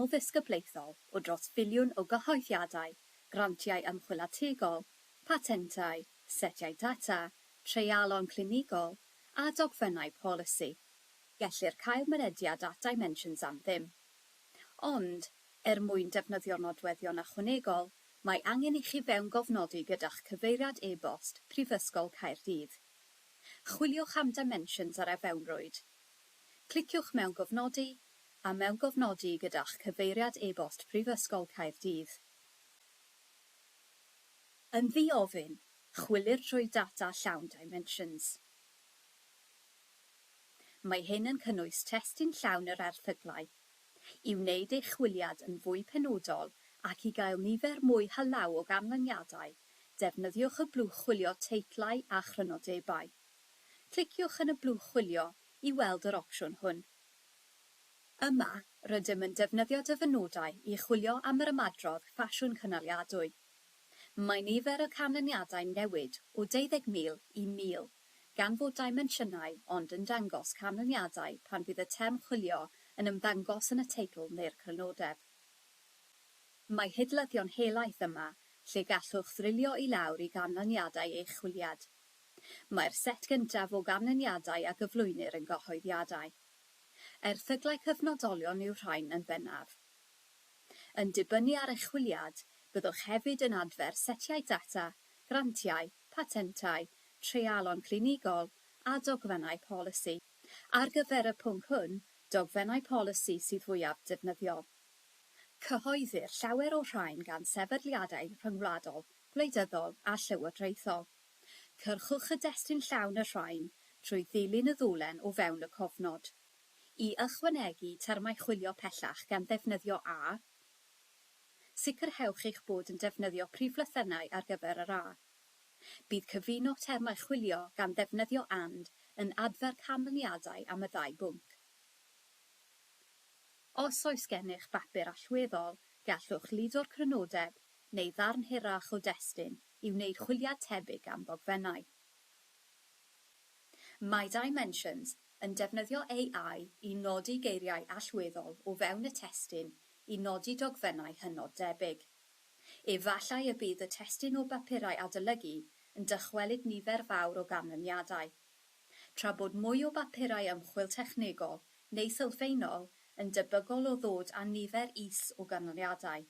Canol Ddisgyblaethol o dros filiwn o gyhoeddiadau, grantiau ymchwil ategol, patentau, setiau data, treialon clinigol a dogfennau polisi. Gellir cael mynediad at Dimensions am ddim. Ond, er mwyn defnyddio'r nodweddion ychwanegol, mae angen i chi fewngofnodi gyda'ch cyfeiriad e-bost Prifysgol Caerdydd. Chwiliwch am Dimensions ar e-fewnrwyd. Cliciwch mewn Gofnodi a mewngofnodi gyda'ch cyfeiriad e-bost Prifysgol Caerdydd. Yn ddi-ofyn, chwilir trwy data llawn Dimensions. Mae hyn yn cynnwys testun llawn yr erthyglau. I wneud eich chwiliad yn fwy penodol ac i gael nifer mwy hylaw o ganlyniadau, defnyddiwch y blwch chwilio Teitlau a Chrynodebau. Cliciwch yn y blwch chwilio i weld yr opsiwn hwn. Yma, rydym yn defnyddio dyfynodau i chwilio am yr ymadrodd ffasiwn cynaliadwy. Mae nifer y canlyniadau'n newid o deuddeg mil i mil, gan fod dimensiynau ond yn dangos canlyniadau pan fydd y term chwilio yn ymddangos yn y teitl neu'r crynodeb. Mae hidlyddio'n helaeth yma, lle gallwch ddrilio i lawr i ganlyniadau eich chwiliad. Mae'r set gyntaf o ganlyniadau a gyflwynir yn gyhoeddiadau. Erthyglau cyfnodolion yw'r rhain yn bennaf. Yn dibynnu ar eich chwiliad, byddwch hefyd yn adfer setiau data, grantiau, patentau, treialon clinigol a dogfennau polisi. Ar gyfer y pwnc hwn, dogfennau polisi sydd fwyaf defnyddiol. Cyhoeddir llawer o'r rhain gan sefydliadau rhyngwladol, gwleidyddol a llywodraethol. Cyrchwch y destun llawn y rhain trwy ddilyn y ddolen o fewn y cofnod. I ychwanegu termau chwilio pellach gan ddefnyddio a, sicrhewch eich bod yn defnyddio priflythennau ar gyfer yr a. Bydd cyfuno termau chwilio gan ddefnyddio and yn adfer canlyniadau am y ddau bwnc. Os oes gennych bapur allweddol, gallwch ludo'r crynodeb neu ddarn hirach o destun. i wneud chwiliad tebyg am ddogfennau. Mae Dimensions yn defnyddio AI i nodi geiriau allweddol o fewn y testun i nodi dogfennau hynod debyg. Efallai y bydd y testun o bapurau adolygu yn dychwelyd nifer fawr o ganlyniadau, tra bod mwy o bapurau ymchwil technegol neu sylfaenol yn debygol o ddod â nifer is o ganlyniadau.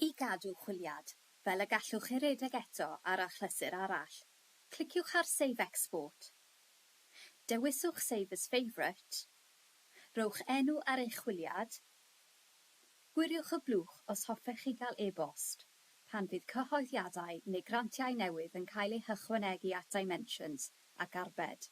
I gadw chwiliad, fel y gallwch chi redeg eto ar achlysur arall, cliciwch ar Save Export. Dewiswch Save as Favourite. Rhowch enw ar eich chwiliad. Gwiriwch y blwch os hoffech chi gael e-bost pan fydd cyhoeddiadau neu grantiau newydd yn cael eu hychwanegu at Dimensions ac Arbed.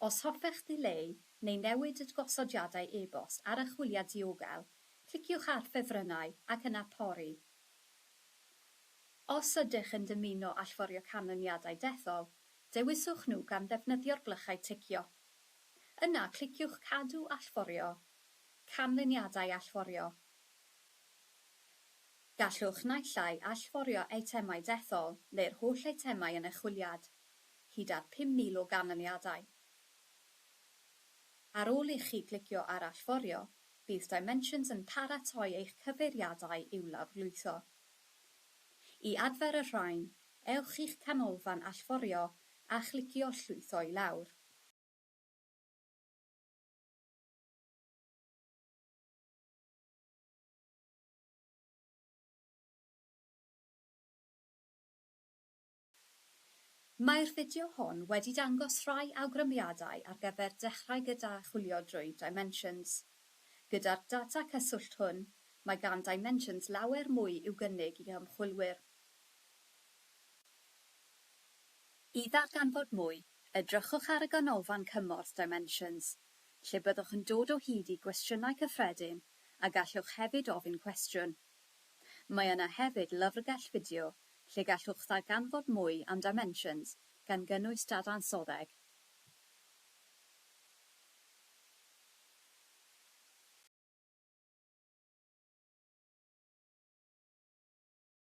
Os hoffech ddileu neu newid y gosodiadau e-bost ar archwiliad diogel, cliciwch ar Ffefrynnau ac yna Pori. Os ydych yn dymuno allforio canlyniadau dethol, dewiswch nhw gan ddefnyddio'r blychau ticio. Yna cliciwch Cadw Allforio, Canlyniadau Allforio. Gallwch naill ai allforio eitemau dethol neu'r holl eitemau yn eich chwiliad, hyd at 5,000 o ganlyniadau. Ar ôl ichi glicio ar Allforio, bydd Dimensions yn paratoi eich cyfeiriadau i'w lawrlwytho. I adfer y rhain, ewch i'ch canolfan allforio a chlicio Llwytho i lawr. Mae'r fideo hwn wedi dangos rhai awgrymiadau ar gyfer dechrau gyda chwilio drwy Dimensions. Gyda'r data cyswllt hwn, mae gan Dimensions lawer mwy i'w gynnig i ymchwilwyr. I ddarganfod mwy, edrychwch ar y Ganolfan Cymorth Dimensions, lle byddwch yn dod o hyd i gwestiynau cyffredin a gallwch hefyd ofyn cwestiwn. Mae yna hefyd lyfrgell fideo lle gallwch ddarganfod mwy am Dimensions, gan gynnwys dadansoddeg.